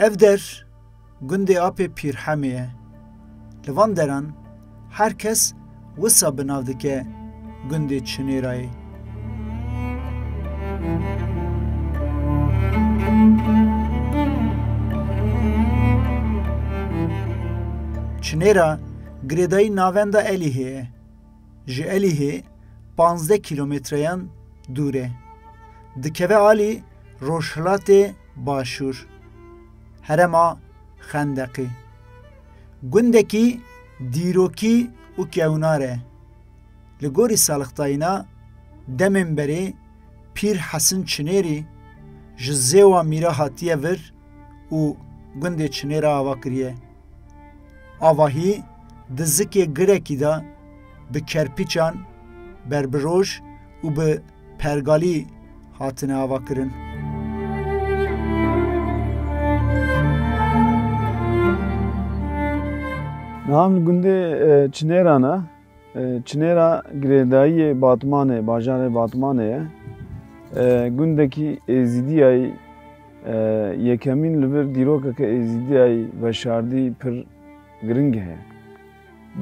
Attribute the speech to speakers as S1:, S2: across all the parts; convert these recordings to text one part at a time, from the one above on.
S1: Ev der gundê Apê Pîrhemê ye. Li van deran her kes wisa bi nav dike gundê Çinêrayê. Çinêra girêdayî navenda Elîhê ye. Ji Elîhê panzdeh kîlometreyan dûr e. Dikeve alî rojhilatê başûr. Herema Xendeqê. Gundekî dîrokî û kewnar e. Li gorî salixtayîna demên berê Pîr Hesin Çinêrî ji Zêwa Mîra hatiye vir û gundê Çinêra ava kiriye. Avahî di zikê girekî de bi kerpîçan, berbiroj û bi pergalî hatine ava kirin. Niha min gundê Çinêran e. Çinêra girêdayiyê Batmanê, bajarê Batmanê ye. Gundekî Êzîdiyayî yekemîn li vir dîrokeke Êzîdiyayî veşardî pir giring heye.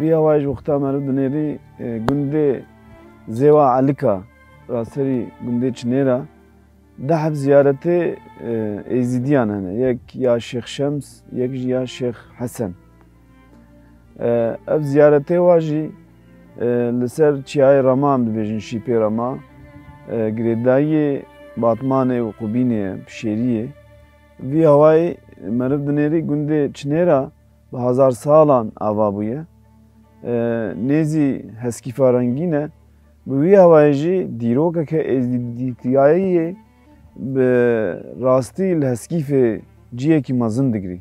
S1: Bi hewa ji wexta me li dinêrî gundê Zêwa Elika ra serî gundê Çinêra dehf ziyaretê Êzîdiyan hene. Yek ya Şêx Şems, yek jî ya Şêx Hesen. Ev ziyaretê wa jî li ser çiyayê Rama em dibêjin şîpê Rama girêdayiyê Batmanê û Qubînê ye, pişêriyê. Vî hewayê meriv dinêrî gundê Çinêra bi hezar salan ava bûye. Nêzî heskîfa rengîn e. Bi vî hewayê jî dîrokeke êzdîtiyayiyê bi rastî li heskîfê ciyekî mezin digirî.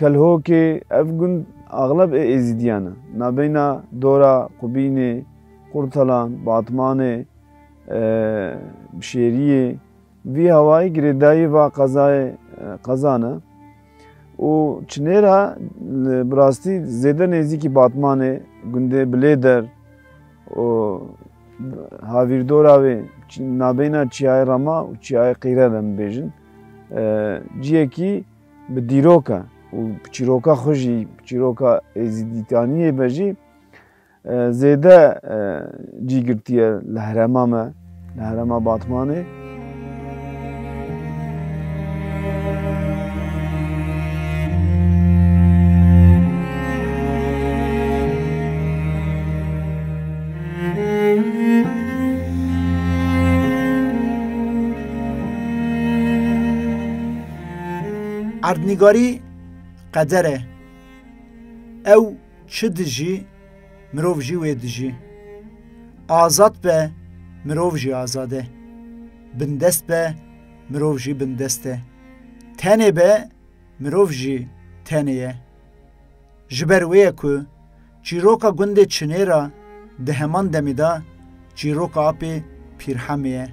S1: Kelhokê, Ev gund axleb ê Êzîdiyan e. Navbeyna Dora, Qubînê, Qurtalan, Batmanê, Bişêriyê vî hewayî girêdayî va qezayê qezan e û Çinêra bi rastî zêde nêzîkî Batmanê, gundê Bilêder û Havîrdora wê navbeyna Çiyayê Rama û Çiyayê Qîre de min bêjin ciyekî Bi dîroka û bi çîroka xwe jî bi çîroka êzîdîtaniyê me jî zêde cî girtiye li herêma me li herêma Batmanê. Erdnîgarî qeder e. Ew çi dijî, mirov jî wê dijî. Azad be, mirov jî azad e. Bindest be, mirov jî bindest e. Tenê be, mirov jî tenê ye. Ji ber wê ye ku Çîroka gundê Çinêra di heman demê de çîroka apê Pîrhemê ye.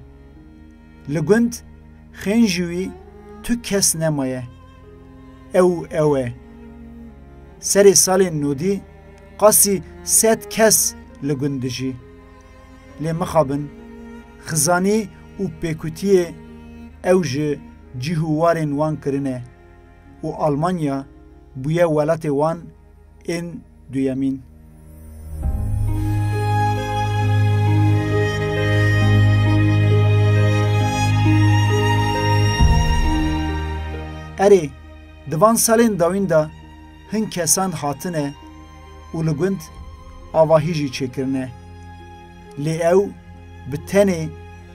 S1: Li gund xên ji wî tu kes nemaye. Ew û ew e. Serê salên nûdî qasî sed kes li gund dijî. Lê mixabin, xizanî û pêkutiyê ew ji cîh û warên wan kirine û Almanya bûye welatê wan, Ên duyemîn. Erê, di van salên dawîn de hin kesan hatine û li gund avahî jî çêkirine. Lê ew bi tenê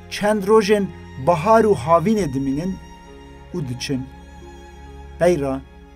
S1: çend rojên bahar û havînê dimînin û diçin. Peyra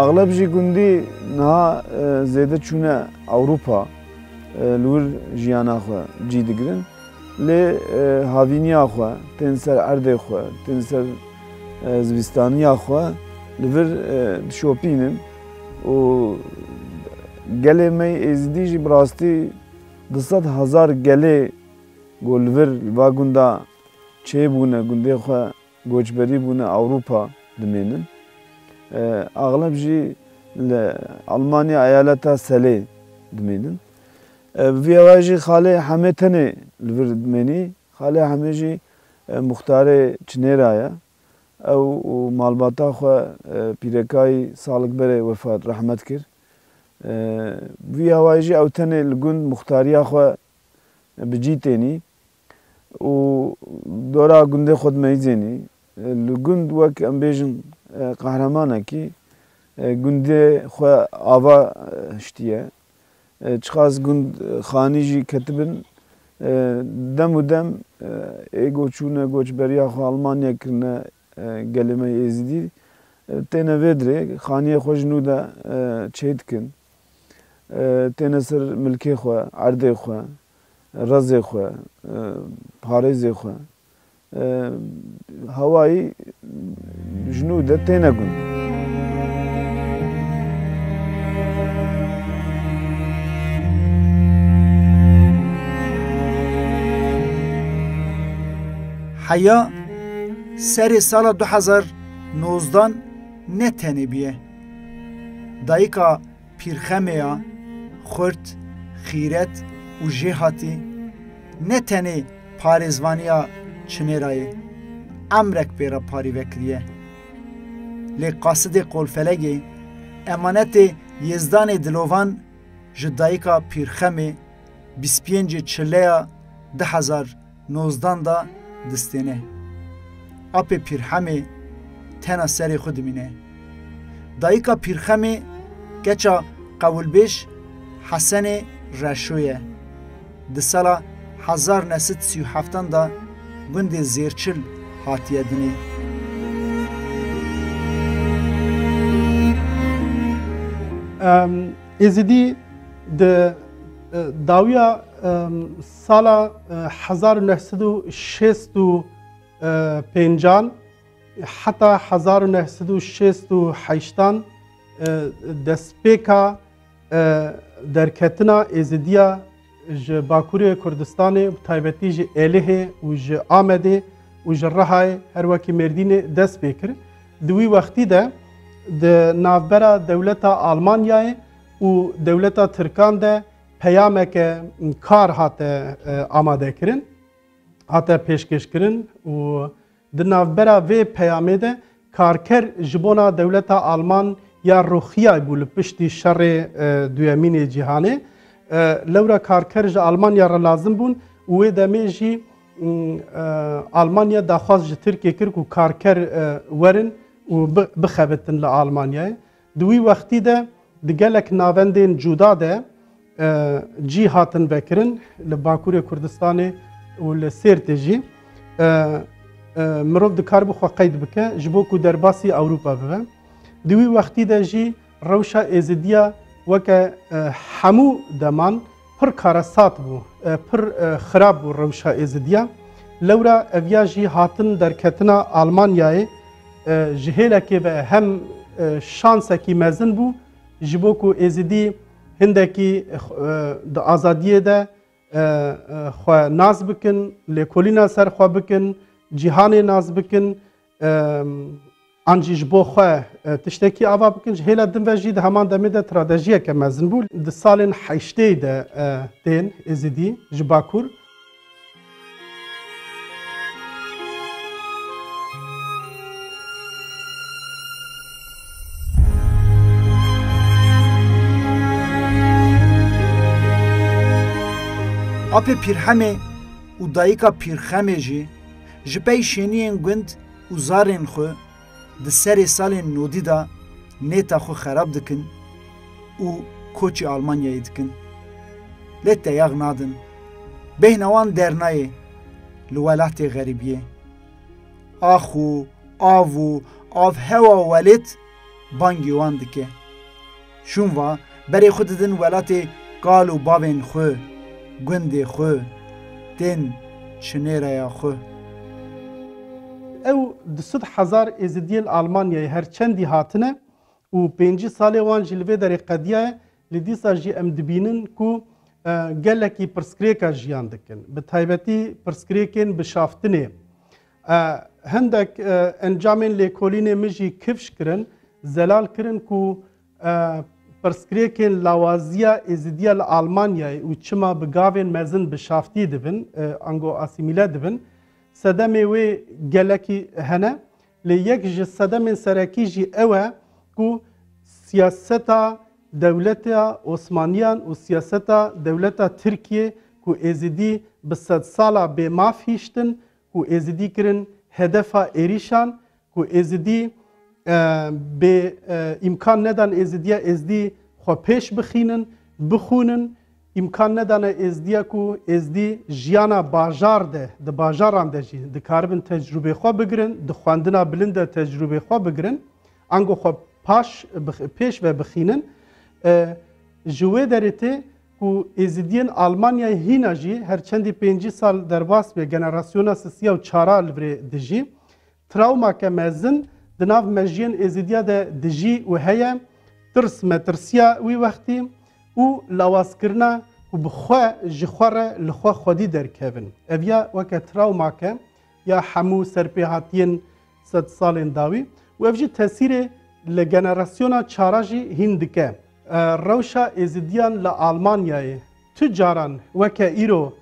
S1: Axleb jî gundî niha zêde çûne Ewropa li wir jiyana xwe cî digirin lê havîniya xwe tên ser erdê xwe tên ser Zivîstaniya xwe li vir dişopînim û gelê me yê Êzidî jî bi rastî du sed hezar gelê ku li vir li va gunda çêbûne gundê xwe goçberî bûne Ewropa dimênin. Axleb jî li Elmanya eyaleta Selê dimênin. Bi vî awayê jî xalê Hemê tenê li vir dimênî Xalê Hemî jî muxtarê Çinêra ye. Ew û malbata xwe pîrekayî salik berê wefat rehmet kir. Vî awayî jî ew tenê li gund muxtariya xwe bi cî tênî û dora gundê xwe dimeyîzênî. Li gund wek em bêjin qehremanekî gundê xwe ava hiştiye. Çiqas gund xanî jî ketibin. Dem û dem ê ku çûne koçberiya xwe Almanyayê kirine gelê me yê Êzidî têne vê dirê xaniyê xwe ji nû de çê dikin. Têne ser milkê xwe, erdê xwe, rezê xwe, parêzê xwe. Hawayî ji nû de têne gund. Heya serê sala du hezar nozdan ne tenê bûye. Dayika Pîrxemeya, xurt, xîret û jêhatî ne tenê parêzvaniya çinê re ye, emrek pê re parî vekiriye. Lê qasidê qolfelegê, emanetê Yêzdanê Dilovan ji dayika Pîrxemê bîst pêncê çileya du hezar Nozdan da distêne. Apê Pîrhemê tena serê xwe dimîne. Dayika Pîrxemê keça qewilbêj Hesenê Reşo ye. Di sala hezar ne sed sî û heftan da gundê Zêrçil hatiye dinê. Êzidî di dawiya Sala hezar û neh sed û şêst û pêncan heta hezar û neh sed û şêst û heştan destpêka derketina Êzidiya ji Bakurê Kurdistanê bi taybetî ji Êlihê û ji Amedê û ji Rihayê her wekî Mêrdînê dest pê kir. Di wî wextî de di navbera dewleta Almanyayê û dewleta Tirkan de Peyameke kar hate amadekirin, hate pêşkêşkirin û di navbera vê peyamê de karker ji bona dewleta Alman ya Rûxiyay bû li piştî şerê duyemînê cîhanê. Lewra karker ji Almanya re lazim bûn û wê demê jî Almanya daxwaz ji Tirkiyê kir ku karker werin û bixebitin li Almanyayê. Di wî wextî de di gelek navendên cuda de cî hatin vekirin, li Bakurê Kurdistanê û li Sêrtê jî. Mirov dikaribû xwe qeyd bike ji bo ku derbasî Ewropa bibe. Di wî wextî de jî rewşa Êzidiya weke hemû deman, Pir karesat bû, pir xirab bû rewşa Êzidiya. Lewra ev ya jî hatin derketina Almanyayê ji hêlekê ve hem şansekî mezin bû ji bo ku Êzidî hindekî di azadiyê de xwe nas bikin, lêkolîna ser xwe bikin, cîhanê nas bikin, An jî ji bo xwe tiştekî ava bikin ji hêla din ve jî di heman demê de tradejiyeke mezin bû. Di salên heşteyê de tên Êzidî ji Bakur. Apê Pîrhemê û dayika Pîrxemê jî Ji pey şêniyên gund û zarên xwe di serê salên nodî de nêta xwe xerab dikin û koçî Almanyayê dikin. Lê teyax nadin. Bêhna wan dernayê li welatê xerîbiyê. Ax û av û avhewa welêt Bangî wan dike. Şûn va, berê xwe didin welatê kal û bavên xwe, gundê xwe, tên çinêreya xwe. Ew du sed hezar Êzidiyê li Almanyayê her çendî hatine û pêncî salê wan jî li vê derê qediyaye, lê dîsa jî em dibînin ku gelekî pirsgirêka jiyan dikin, bi taybetî pirsgirêkên bi şaftinê. Hindek encamên lêkolînê min jî kifş kirin. Zelal kirin ku pirsgirêkên lawaziya Êzidiya li Almanyayê û çima bi gavên mezin bi şaftiyê dibin, ango asîmîle dibin, sedemê wê gelekî hene. Lê yek ji sedemên serekî jî ew e ku siyaseta dewleta Osmaniyan û siyaseta dewleta Tirkiyê ku Êzidî bi sedsala bêmaf hiştin ku Êzidî kirin hedefa êrîşan ku Êzidî bê îmkan nedan Êzidiya Êzdî xwe pêş bixînin, bixwînin, îmkan nedane Êzdiya ku Êzdî jiyana bajar de, di bajaran de jî dikaribin tecrûbê xwe bigirin, di xwendina bilind de tecrûbê xwe bigirin, ango xwe paş pêş ve bixînin. Ji wê derê tê ku Êzidiyên Almanyayê hîna jî her çendî pêncî sal derbas be generasyona sisiya û çara li virê dijî. Trawmake mezin di nav mejiyên Êzidiya de dijî û heye, tirs metirsiya wî wextî û lawazkirina ku bi xwe, ji xwe re li xwe xwedî derkevin. Ev ya weke trawmake ya hemû serpêhatiyên sed salên dawî û ev jî tesîrê li generasyona çara jî hîn dike. Rewşa Êzidiyan li Almanyayê tu caran weke îro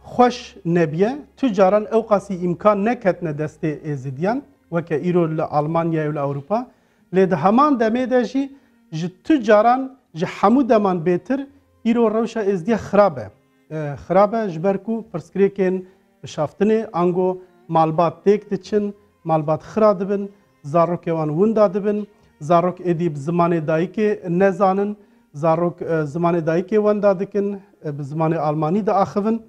S1: xweş nebûye, tu caran ewqasî îmkan neketine destê Êzidiyan weke îro li Almanyayê û li Ewropa, lê di heman demê de jî ji tu caran ji hemû deman bêtir îro rewşa Êzidiya xirab e. Xirab e ji ber ku pirsgirêkên Bişaftinê, ango malbat têk diçin, malbat xira dibin, zarokê wan winda dibin, zarok êdî bi zimanê dayikê nezanin, zarok zimanê dayikê wenda dikin, bi zimanê almanî diaxivin.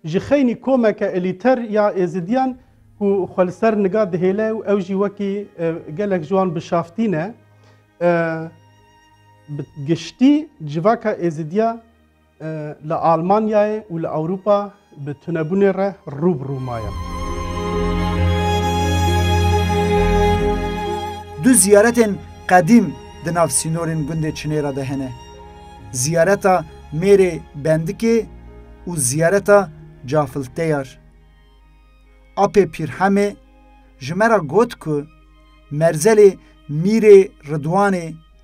S1: Ji xeynî komeke elîter ya êzidiyan ku xwe li ser niga dihêle û ew jî wekî gelek ji wan bişaftî ne, bi giştî civaka êzidiya Li Almanyayê û li Ewropa bi tunebûnê re rû bi rû maye. Du ziyaretên qedîm di nav sînorên gundê Çinêra de hene. Ziyareta Mêrê Bendikê û ziyareta Cafilteyar. Apê Pîrhemê ji me re got ku merzelê Mîrê Ridwanê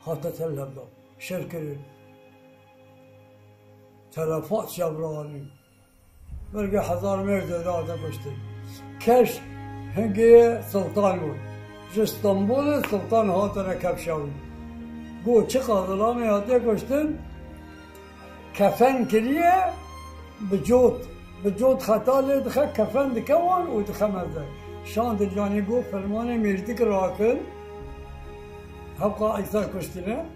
S1: Hate telhevdan, şerkirin, telefat çavranî, belge hezar mêrd ê dade kuştin. Keş hingeyê siltan bû. Ji Stenbolê siltan hatine kevşawî. Got çiqa zilamê hate kuştin. Kefen kiriye bi cot. Bi cot xeta lê dixe kefen dike wan û dixe meze. Şandir yanî got fermanê mêrdik rakin hewqa Îsa kuştin e.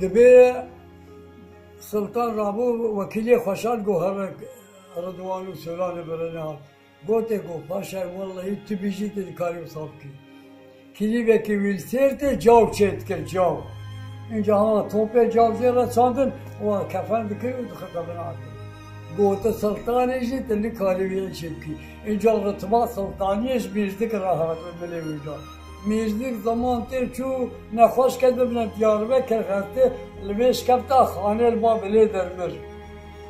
S1: Dibê Siltan Rabo wekîlê Xweşal Gohar e Ridwan û Solanê birine. Gotê ku paşayê wellehî tu bî jî tu dikarî wisa bikî. Kilîbekî wîlçêr tê caw çê dike caw. Înca hema topê caw jê re çandin wan kefen dikir û dixike bin erdê. Gote siltanê jî tu nikarî wî îşê bikî. Înca ritiba siltaniyê ji mîrzik re hat û milê wî da. Mîrzik ziman tê çû nexweş ket bibine Diyarbekir xeftê li vê şikefta xanê li ba bilê der mir.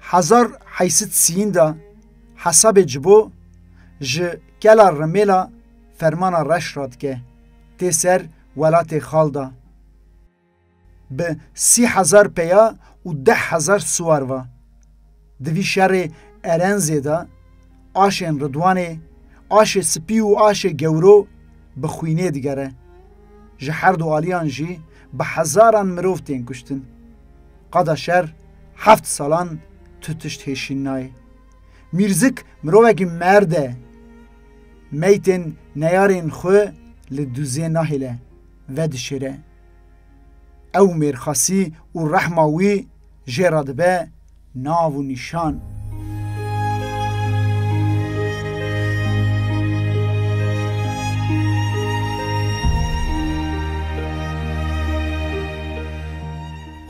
S1: Hezar heysit sîyin de hesabê cibo ji kela rimêla fermana reş re dike tê ser welatê xal de. Bi sî hezar peya û deh hezar siwar ve. Di vî şerê Erenzê de aşên Ridwanê, aşê sipî û aşê gewro bi xwînê digere. Ji herdu aliyan jî bi hezaran mirov tên kuştin. Qada şer heft salan tu tişt hêşîn nayê. Mîrzik mirovekî merd e. Meytên neyarên xwe li duzê nahêle, vedişêre. Ew mêrxasî û rehma wî jê re dibe Nav û nîşan.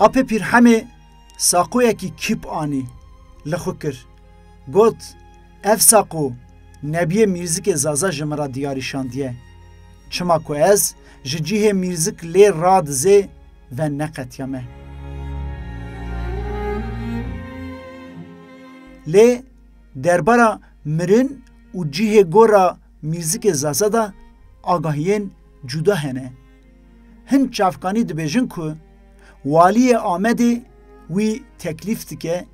S1: Apê Pîrhemê saqoyekî kîp anî li xwe kir. Got, Ev saqo nebiyê mîrzikê Zaza ji min re diyarî şandiye. Çima ku ez ji cihê mîrzik lê radizê, Ve neqetiya me. Lê derbara mirin û cihê gora mîzikê Zaza de agahiyên cuda hene. Hin çavkanî dibêjin ku Waliyê Amedê wî teklîf dike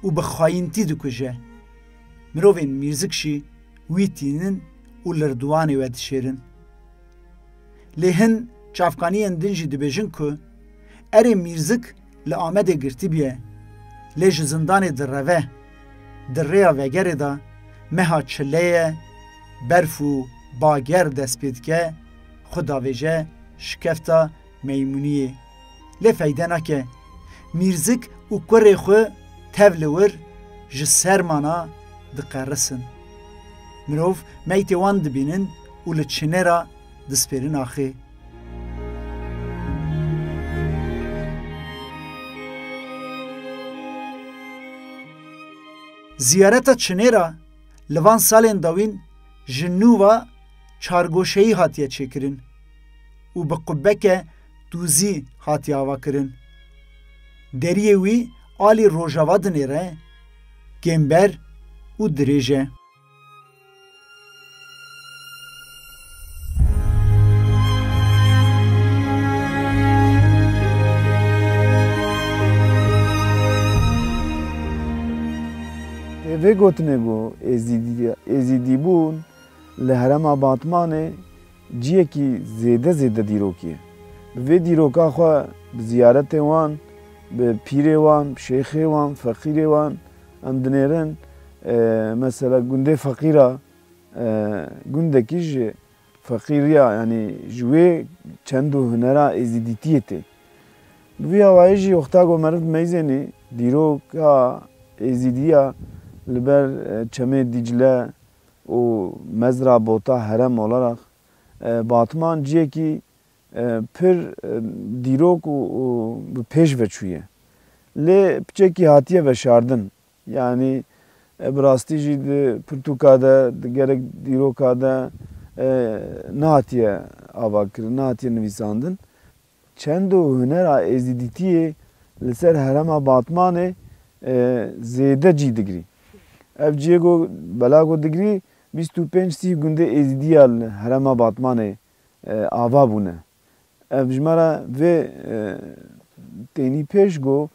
S1: û bi xayintî dikuje. Mirovên mîzik jî wî tînin û li rdiwanê we dişêrin. Lê hin çavkaniyên din jî dibêjin ku erê Mîrzik li Amedê girtibûye lê ji zindanê direve, di rêya vegerê de meha çileye, berf û bager dest pê dike, xwe davêje şikefta Meymuniyê lê feyde nake. Mîrzik û kurê xwe tev li wir ji sermana diqerisin. Mirov meytê wan dibînin û li çine re dispêrin axê. Ziyareta çinê re li van salên dawîn ji nû ve çargoşeyî hatiye çêkirin. û bi qubeke tûzî hatiye avakirin. Deriyê wî alî rojava dinêre, kêmber û dirêj e. Tê vê gotinê ku Êzîdîbûn li herêma Batmanê Ciyekî zêde zêde dîrokî ye. Bi vê dîroka xwe bi ziyaretên wan, bi pîrê wan, şêxê wan, feqîrê wan em dinêrin. Mesela gundê feqîr a, gundekî ji feqîriya yanî ji wê çend û hunera êzîdîtiyê tê. Bi vî awayî jî Oxtago Meriv Meyzênî dîroka êzîdî ya li ber Çemê Dîcle û mezra bota herem olaraq Batman ciyekî pir dîrok û bi pêş ve çûye. Lê piçekî hatiye veşardin. Yanî bi rastî jî di pirtûka de, di gelek dîroka de nehatiye avakirin, nehatiye nivîsandin. Çend û hunera Êzîdîtiyê li ser herêma Batmanê zêde cîh digrî. Ev cihê ku bela ku digrî bîst û pênc sîh gundê Êzîdî ya li herêma Batmanê ava bûne. Ev ji me re vê tênî pêş ku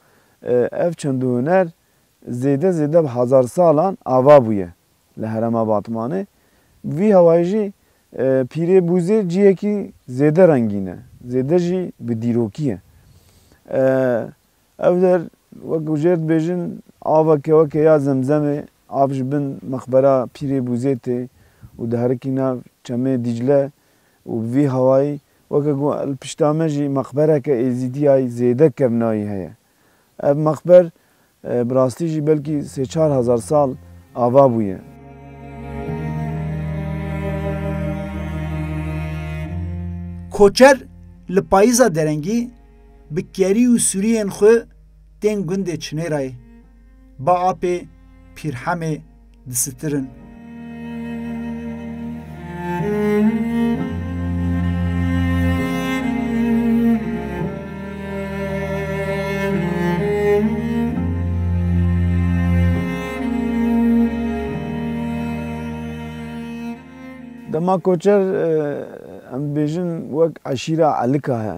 S1: ev çend û huner zêde zêde bi hezar salan ava bûye li herêma Batmanê. Bi vî hewayî jî Pîrê Bûzê cihekî zêde rengîn e, zêde jî bi dîrokî ye. Ev der wek jêr dibêjin aveke weke ya zemzemê av ji bin mexbera Pîrê Bûzê tê û diherikî nav çemê Dîcle û bi vî hewayî weke ku li pişta me jî mexbereke êzîdîyayî zêde kevnayî heye. Ev mexber bi rastî jî belkî sê çar hezar sal ava bûye. Koçer li payîza derengî bi kerî û sûriyên xwe tên gundê Çinêrayê, Baapê, Pîrhemê, disitirin. Dema koçer em dibêjin wek eşîra elika he.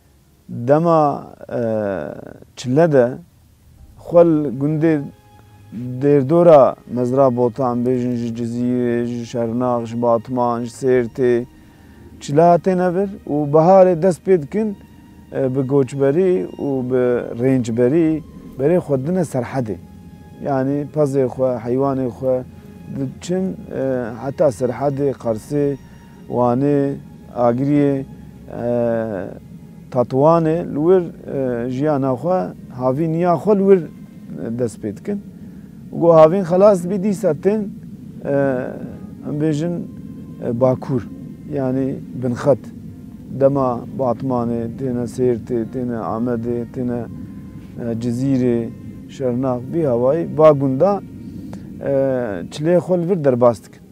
S1: Dema çile de xwe li gundê Dêrdora Mezra Botan bêjin ji Cizîrê, ji Şernax, ji Batman, ji Sêrtê çile hatine vir û biharê dest pê dikin bi goçberî û bi rêncberî berê xwe dine serhedê. Yanî pezê xwe, heywanê xwe diçin heta serhedê Qersê. Wanê, Agiriyê, Tetuanê li wir jiyana xwe havîn ya xwe li wir dest pê dikin û ku havîn xelas dibî dîsa tên em bêjin Bakur yanî binxet dema Batmanê têne Sêrtê têne Amedê têne Cizîrê Şernax bihawayî ba gunda çilê xwe li vir derbas dikin.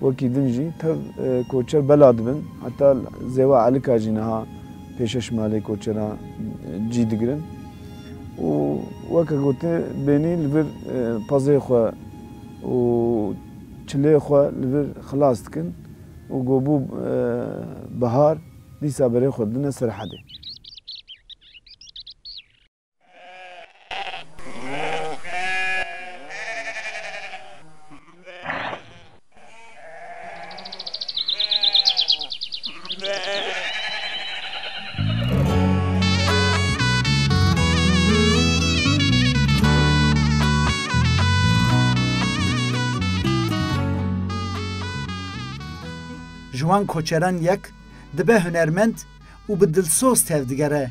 S1: Wekî din jî tev koçer bela dibin, heta Zêwa Elika jî niha pêşeş malê koçeran cî digirin û weke gotin bênî li vir pezê xwe û çilê xwe li vir xilas dikin û ku bû bihar dîsa berê xwe didine Serhedê. Ji wan koçeran yek dibe hunermend û bi dilsoz tevdigere.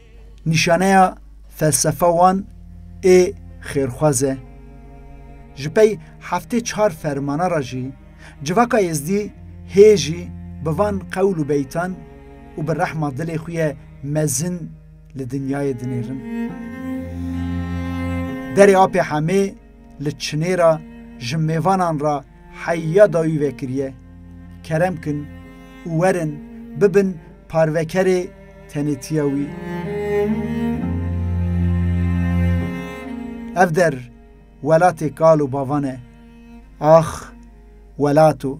S1: Nîşaneya felsefa wan ê xêrxwaz e. Ji pey heftê çar fermana re jî civaka êzdî hê jî bi van qewl û beytan û bi rehma dilê xwe ye mezin li dinyayê dinêrin. Derê Apê Hemê li Çinê re ji mêvanan re Heya dayî vekiriye, kerem kin û werin bibin parvekerê tenêtiya wî. Ev der welatê kal û bavan e. Ax welato!